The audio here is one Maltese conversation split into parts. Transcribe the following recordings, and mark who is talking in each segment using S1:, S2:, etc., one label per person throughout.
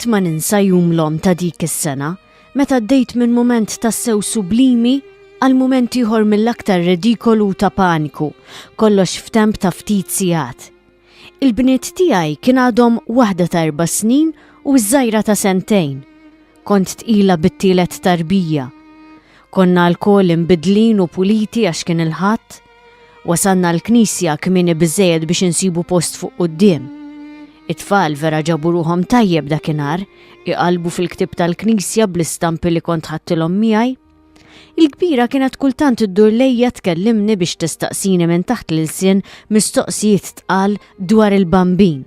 S1: Qatt ma ninsa jum l-om ta' dik is-sena meta ddejt minn mument tassew sublimi għal mument ieħor mill-aktar redikolu ta' paniku, kollox f'temp ta' ftit sigħat. Il-bniet tiegħi kien għadhom waħda ta' erba' snin u ż-żgħira ta' sentejn. Kont tqila bit-tielet tarbija. Konna lkoll imbidlin u puliti għax kien il-Ħadd. Wasalna l-knisja kmieni biżejjed biex insibu post fuq quddiem. It-tfal vera ġabu ruhom tajjeb dakinhar, iqalbu fil-ktib tal-knisja bl-istampi li kont ħadtilhom miegħi. Il-kbira kienet kultant iddur lejja tkellimni biex tistaqsini minn taħt l-ilsien mistoqsijiet tqal dwar il-bambin.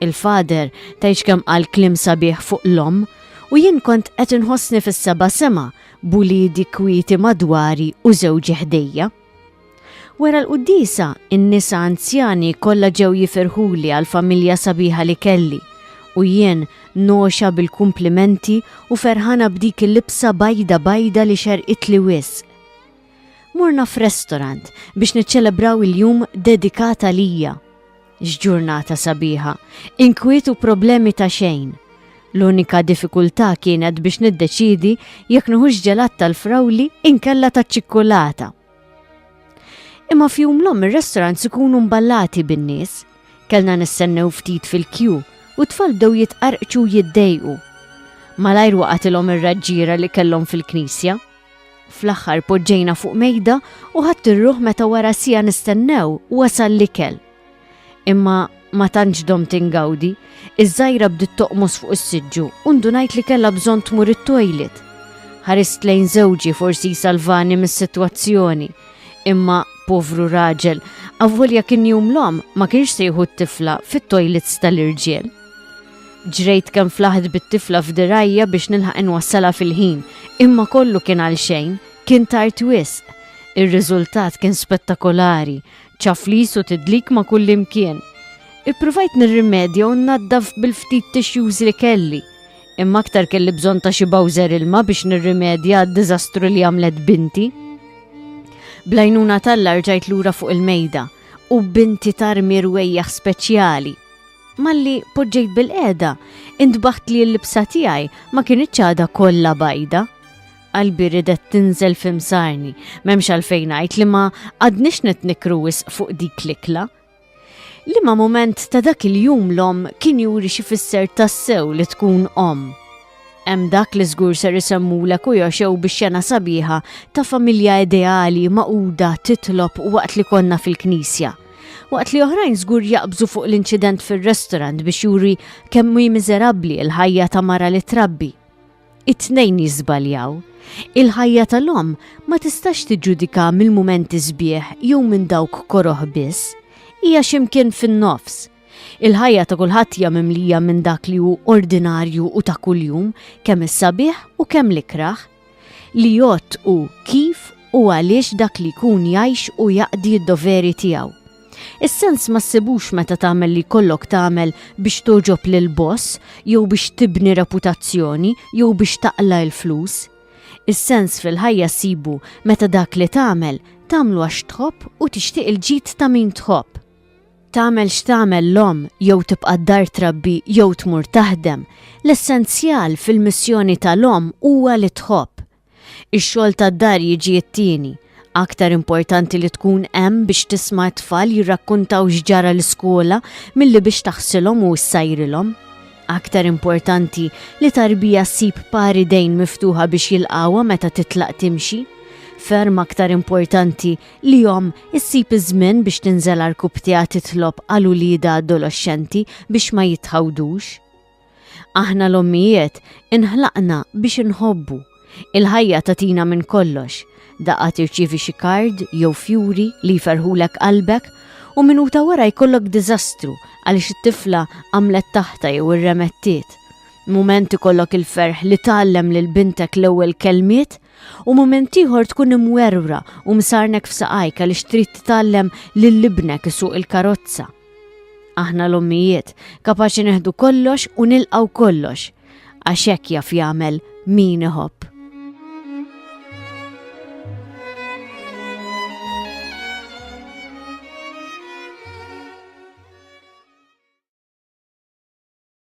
S1: Il-fader tajx kemm qal klim sabiħ fuq l-om u jien kont qed inħossni fis-seba' sema b'uliedi kwieti madwari u żewġi ħdejja. Wara l-quddisa, in-nisa anzjani kollha ġew jifirħuli għal familja sabiħa li kelli u jien noxa bil-kumplimenti u ferħana b'dik il-libsa bajda bajda li xerqitli wisq. Morna f'restorant biex niċċelebraw il-jum dedikata lija. X'ġurnata sabiħa! Inkwiet u problemi ta' xejn. L-unika diffikultà kienet biex niddeċiedi jekk nuħux ġelat tal-frawli inkella taċ-ċikkulata. Imma fjum l-om ir-restaurant sikunu mballati bin-nies. Kellna nistennew ftit fil-kju u tfal bdew jitqarqċu jiddejqu. Malajr waqatilhom ir-raġġiera li kellhom fil-knisja. Fl-aħħar poġġejna fuq mejda u ħadt ir-ruħ meta wara sija nistennew wasal l-ikel. Imma ma tantx dom tingawdi, iż-żgħira bdiet toqmos fuq is-siġġu u ndunajt li kellha bżonn tmur it-toilet. Ħarist lejn żewġi forsi jsalvani mis-sitwazzjoni, imma povru raġel, avvolja kien jum l-om ma kienx sejħu t-tifla fit-toilets tal-irġiel. Ġrejt kemm flaħt bit-tifla f'dirgħajja biex nilħaq inwassalha fil-ħin, imma kollu kien għal xejn, kien tard wisq. Ir-riżultat kien spettakolari, ċaflis u tidlik ma' kullimkien. Ippruvajt nirrimedja u nnaddaf bil-ftit tissues li kelli, imma aktar kelli bżonn ta' xi bowser ilma biex nirrimedja għad-diżastru li għamlet binti. Bl-għajnuna t'Alla rġajt lura fuq il-mejda u binti tarmi rwejjaħ speċjali. Malli poġġejt bil-qiegħda, intbaħt li l-libsa tiegħi ma kinitx għadha kollha bajda. Qalbi ridet tinżel fimsarni, m'hemmx għalfejn ngħid li ma għadniex qed nikru wisq fuq dik l-ikla. Liema mument ta' dak il-jum l-omm kien juri xi fisser tassew li tkun omm. Hemm dak li żgur ser isemmulek u joxew bix-xena sabiħa ta' familja ideali maquda titlob waqt li konna fil-knisja. Waqt li oħrajn żgur jaqbżu fuq l-inċident fir-restaurant biex juri kemm hi miżerabbli l-ħajja ta' mara li trabbi. It-tnejn jiżbaljaw. Il-ħajja tal-omm ma tistax tiġġudika mill-mumenti sbieħ jew minn dawk koroh biss. Hija ximkien fin-nofs Il-ħajja ta' kulħadd hija mimlija minn dak li hu ordinarju u ta' kuljum, kemm is-sabiħ u kemm l-ikrah. Li jgħodd hu kif u għaliex dak li jkun jgħix u jaqdi d-doveri tiegħu. Is-sens ma ssibux meta tagħmel li jkollok tagħmel biex togħġob lill-boss jew biex tibni reputazzjoni jew biex taqla' il-flus. Is-sens fil-ħajja ssibu meta dak li tagħmel tagħmlu għax tħobb u tixtieq il-ġid ta' min tħobb. Tagħmel x'tagħmel l-omm, jew tibqa' d-dar trabbi jew tmur taħdem, l-essenzjal fil-missjoni tal-omm huwa li tħobb. Ix-xogħol tad-dar jiġi t-tieni. Aktar importanti li tkun hemm biex tisma' t-tfal jirrakkuntaw x'ġara l-iskola milli biex taħsilhom u ssajrilhom. Aktar importanti li tarbija ssib par idejn miftuħa biex jilqgħuha meta titlaq timxi. Ferm aktar importanti Lihom, issib iż-żmien biex tinżel għarkupptiha titlob għal uliedha adoloxxenti biex ma jitħawdux. Aħna l-ommijiet inħlaqna biex inħobbu. Il-ħajja tagħtina minn kollox. Daqqa tirċievi xi kard jew fjuri li jferħulek qalbek u minuta wara jkollok diżastru għaliex it-tifla għamlet taħta jew irremettiet. Mument ikollok il-ferħ li tgħallem lil bintek l-ewwel kelmiet u mument ieħor tkun imwerwra u msarnek f'saqajk għaliex trid titgħallem lil ibnek isuq il-karozza. Aħna l-ommijiet kapaċi neħdu kollox u nilqaw kollox għax hekk jaf jagħmel min iħobb.